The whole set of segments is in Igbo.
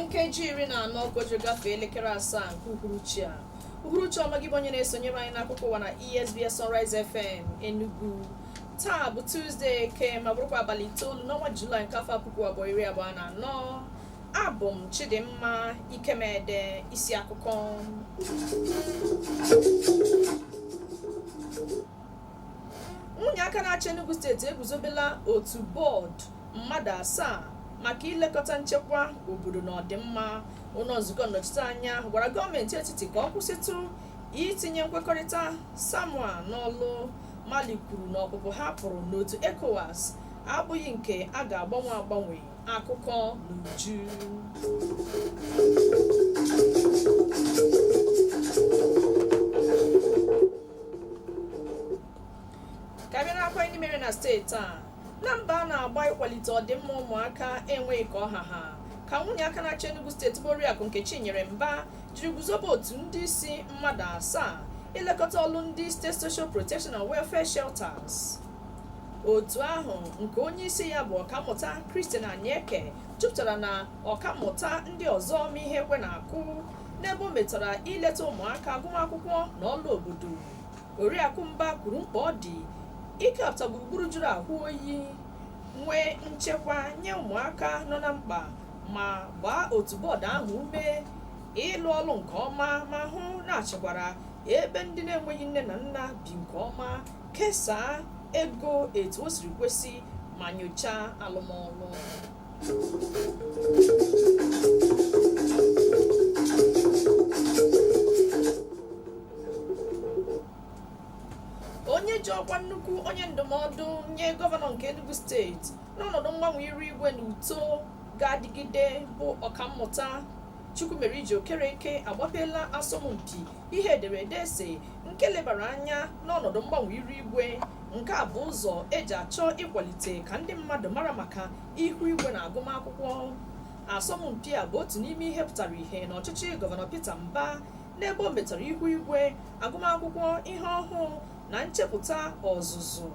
nkeji iri na anọ ka e ji gafee elekere asaa nke uhuruchi a uhuruchi ọma gị bụ onye na-esonyere anyị n'akụkọ ụwa na esbs sunrise fm enugu taa bụ tuzdee eke ma bụrụkwa abalị itoolu n'ọnwa julaị nke afọ puku abụọ iri abụọ na anọ abụ m chidimma ikemede isi akụkọ nwunye aka na-achị Enugu steeti eguzobela otu bọọdụ mmadụ asaa maka ilekọta nchekwa obodo na ọdịmma ụlọ nzukọ nnọchiteanya gwara gọọmenti etiti ka ọ kwụsịtụ itinye nkwekọrịta samoa n'ọlụ mali kwuru na ọpụpụ ha pụrụ n'otu ecowas abụghị nke a ga-agbanwe agbanwe akụkọ n'uju ka bịa n'akwa ndị mere na steeti a na mbọ a na-agba ịkwalite ọdịmma ụmụaka enweghị ka ọ ha ha ka nwunye aka na-achị Enugu steeti bụ Oriakụ Nkechinyere Mba jiri guzobe otu ndị isi mmadụ asaa ilekọta ọlụ ndị state social protection and welfare shelters otu ahụ nke onye isi ya bụ ọkammụta Christian Anieke jupụtara na ọkammụta ndị ọzọ ma ihe ekwe na-akụ n'ebe o metara ileta ụmụaka agụmakwụkwọ na ọlụ obodo oriakụ mba kwuru mkpa ọ dị ikepụta gburugburu jụrụ ahụ oyi nwee nchekwa nye ụmụaka nọ na mkpa ma gbaa otu bọọdụ ahụ ume ịlụ ọlụ nke ọma ma hụ na a chịkwara ebe ndị na-enweghị nne na nna bi nke ọma kesaa ego etu o siri kwesị ma nyochaa alụmọlụ onye ji ọkwa nnukwu onye ndụmọdụ nye gọvanọ nke enugu steeti n'ọnọdụ mgbanwe iru igwe na uto ga-adịgide bụ ọkammụta chukwumerije okereke agbapeela asọmpi ihe ederede essay nke lebara anya n'ọnọdụ mgbanwe iru igwe nke a bụ ụzọ eji achọ ịkwalite ka ndị mmadụ mara maka ihu igwe na agụmakwụkwọ asọmpi a bụ otu n'ime ihe pụtara ihe na ọchịchị gọvanọ Peter Mba n'ebe o metara ihu igwe agụmakwụkwọ ihe ọhụụ na nchepụta ọzụzụ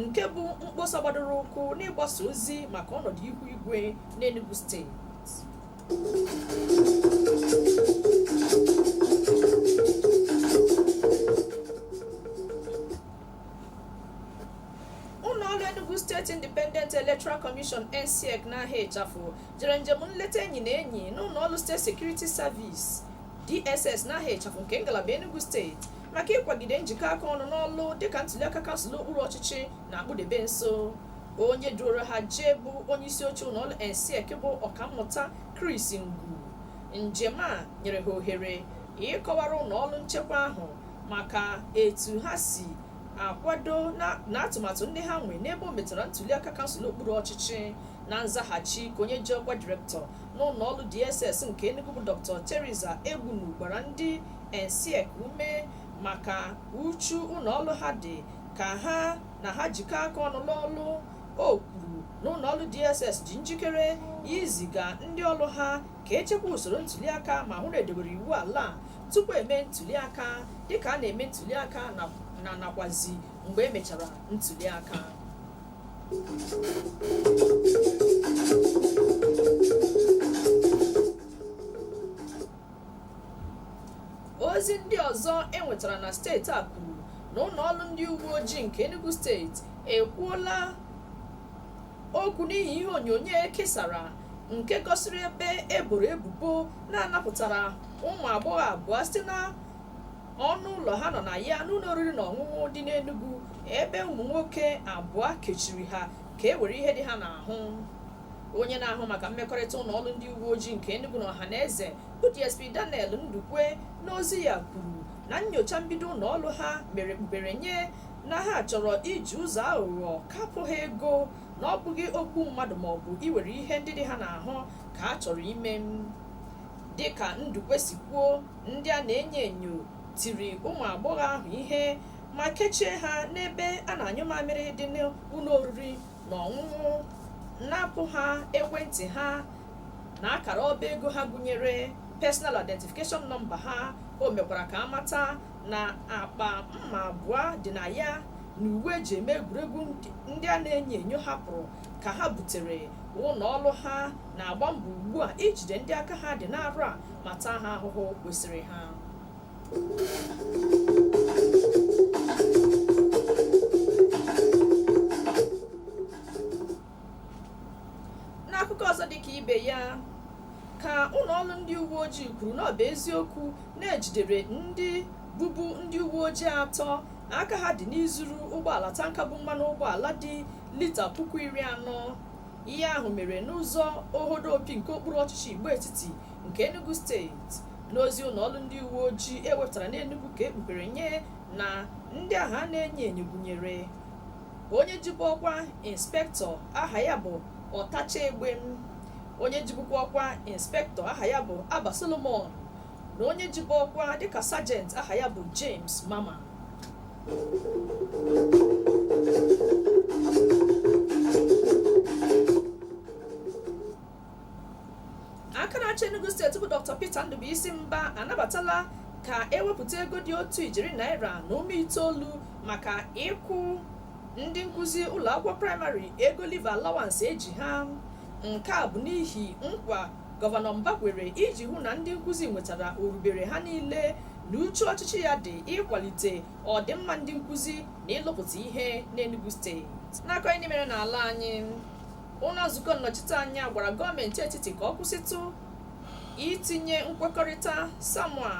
nke bụ mkpọsa gbadoro ụkwụ n'ịgbasa ozi maka ọnọdụ ihu igwe n'Enugu steeti Electoral Commission ENSIEC n'aha ịchafụ jere njem nleta enyi na enyi n'ụlọ ọrụ State Security Service DSS n'aha ịchafụ nke ngalaba Enugu steeti maka ịkwagide njikọ aka ọnụ n'ọlụ dịka ntuliaka kansụl okpuru ọchịchị na-akpụdebe nso onye duoro ha jee bụ onyeisi oche ụlọọrụ ENSIEC bụ ọkammụta Chris Ngwu njem a nyere ha ohere ịkọwara ụlọọrụ nchekwa ahụ maka etu ha si akwado na atụmatụ ndị ha nwee n'ebe o metara ntuliaka kansụl okpuru ọchịchị na nzaghachi ka onye ji ọkwa direktọ n'ụlọ ọrụ DSS nke Enugu bụ Dr. Theresa Egbunu gbara ndị ENSIEC ume maka uchu ụlọ ọrụ ha dị ka ha na ha jikọ aka ọnụ n'ọlụ o kwuru na ụlọọrụ DSS dị njikere iziga ndị ọrụ ha ka echekwa usoro ntuliaka ma hụ na edobere iwu ala tupu eme ntuliaka dịka a na-eme ntuliaka na nakwazi mgbe emechara ntuliaka ozi ndị ọzọ enwetara na steeti a kwuru na ụlọ ọrụ ndị uwe ojii nke enugu steeti ekwuola okwu n'ihi ihe onyonyo ekesara nke gosiri ebe eboro ebubo na anapụtara ụmụ agbọghọ abụọ site na ọnụ ụlọ ha nọ na ya n'ụlọ oriri na ọṅụṅụ dị n'enugu ebe ụmụ nwoke abụọ kechiri ha ka e were ihe dị ha n'ahụ onye na-ahụ maka mmekọrịta ụlọ ọrụ ndị uwe ojii nke Enugu na ọhaneze bụ DSP Daniel Ndukwe n'ozi ya kwuru na nyocha mbido ụlọ ọrụ ha mere kpughere nye na ha chọrọ iji ụzọ aghụghọ napụ ha ego na ọ bụghị igbu mmadụ maọbụ iwere ihe ndị dị ha n'ahụ ka a chọrọ ime dịka Ndukwe si kwuo ndị a na-enyo enyo tiri ụmụ agbọghọ ahụ ihe ma kechie ha n'ebe a na-anyụ mamịrị dị n'ụlọ oriri na ọṅụṅụ napụ ha ekwentị ha na akara ọba ego ha gụnyere personal identification nọmba ha o mekwara ka amata na akpa mma abụọ dị na ya na uwe eji eme egwuregwu ndị a na-enyo enyo hapụrụ ka ha butere ụlọ ọrụ ha na-agba mbọ ugbu a ijide ndị aka ha dị n'arụ a ma taa ha ahụhụ kwesịrị ha n'akụkọ ọzọ dị ka ibe ya ka ụlọ ọrụ ndị uwe ojii kwuru na ọ bụ eziokwu na ejidere ndị bụbu ndị uwe ojii atọ aka ha dị n'izuru ụgbọala tanka bu mmanụ ụgbọala dị lita puku iri anọ ihe ahụ mere n'ụzọ ohodo opi nke okpuru ọchịchị igbo etiti nke Enugu steeti n'ozi ụlọ ọrụ ndị uwe ojii ewepụtara n'Enugu ka ekpughere nye na ndị ahụ a na-enyo enyo gụnyere onye jibu ọkwa inspektọ aha ya bụ ọtacha egbe onye jibukwa ọkwa inspektọ aha ya bụ Abba Solomon na onye jibu ọkwa dịka sajent aha ya bụ James Mama aka na-achị Enugu steeti bụ Dr. Peter Ndubuisi Mba anabatala ka ewepụta ego dị otu ijeri naira na ụma itoolu maka ịkwụ ndị nkụzi ụlọ akwụkwọ praịmarị ego leave allowance e ji ha nke a bụ n'ihi nkwa gọvanọ Mba kwere iji hụ na ndị nkụzi nwetara orubere ha niile na uchu ọchịchị ya dị ịkwalite ọdịmma ndị nkụzi na ịlụpụta ihe n'Enugu steeti n'akụkọ ndị mere n'ala anyị ụlọ nzukọ nnọchiteanya gwara gọọmenti etiti ka ọ kwụsịtụ itinye nkwekọrịta samoa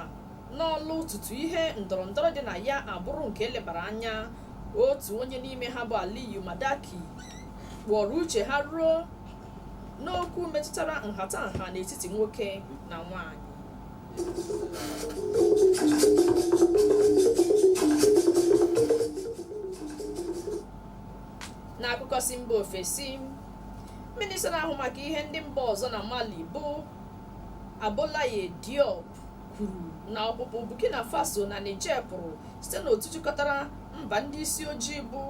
n'ọlụ tutu ihe ndọrọndọrọ dị na ya abụrụ nke elebara anya otu onye n'ime ha bụ aliyu madaki kpọrọ uche ha ruo n'okwu metụtara nhatanha n'etiti nwoke na nwanyị n'akụkọ si mba ofesi minista na-ahụ maka ihe ndị mba ọzọ na mali bụ abdoulaye diop kwuru na ọpụpụ burkina faso na niger pụrụ site n'otu jikọtara mba ndị isi ojii bụ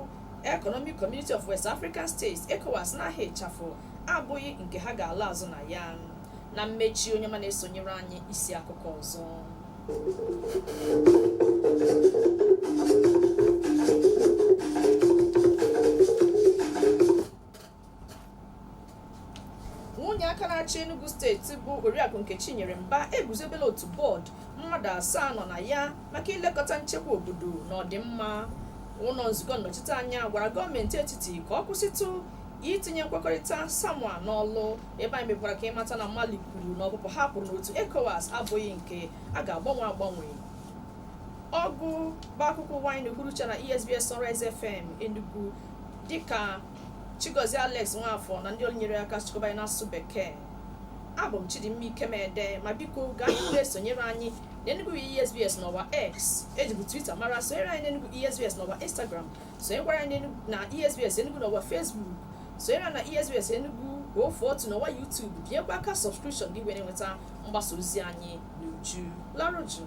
economic community of west african states ecowas n'aha ịchafụ abụghị nke ha ga-ala azụ na ya na mmechi onye ọma na-esonyere anyị isi akụkọ ọzọ nwunye aka na-achị Enugu steeti bụ Oriakụ Nkechinyere Mba eguzobela otu bọọdụ mmadụ asaa nọ na ya maka ilekọta nchekwa obodo na ọdịmma ụlọ nzukọ nnọchiteanya gwara gọọmenti etiti ka ọ kwụsịtụ itinye nkwekọrịta samoa n'ọlụ ebe anyị mekwara ka ị mata na mali kwuru na ọpụpụ ha pụrụ n'otu ecowas abụghị nke a ga-agbanwe agbanwe ọgụ bụ akụkọ ụwa anyị na-ekwurucha na esbs sunrise fm enugu dịka chigozie alex nwafọ na ndị ọrụ nyere aka chịkọba anyị n'asụsụ bekee abụ m chidimma ikemede ma biko gaa n'ihu na-esonyere anyị n'enugu esbs n'ọwa x ejibu twitter mara sonyere anyị n'enugu esbs n'ọwa instagram sonyekwara anyị na esbs enugu n'ọwa facebook sonyere na esbs enugu efu otu n'ọwa youtube binyekwa aka sọbskripshọn gị were nweta mgbasa ozi anyị n'uju larụ jụụ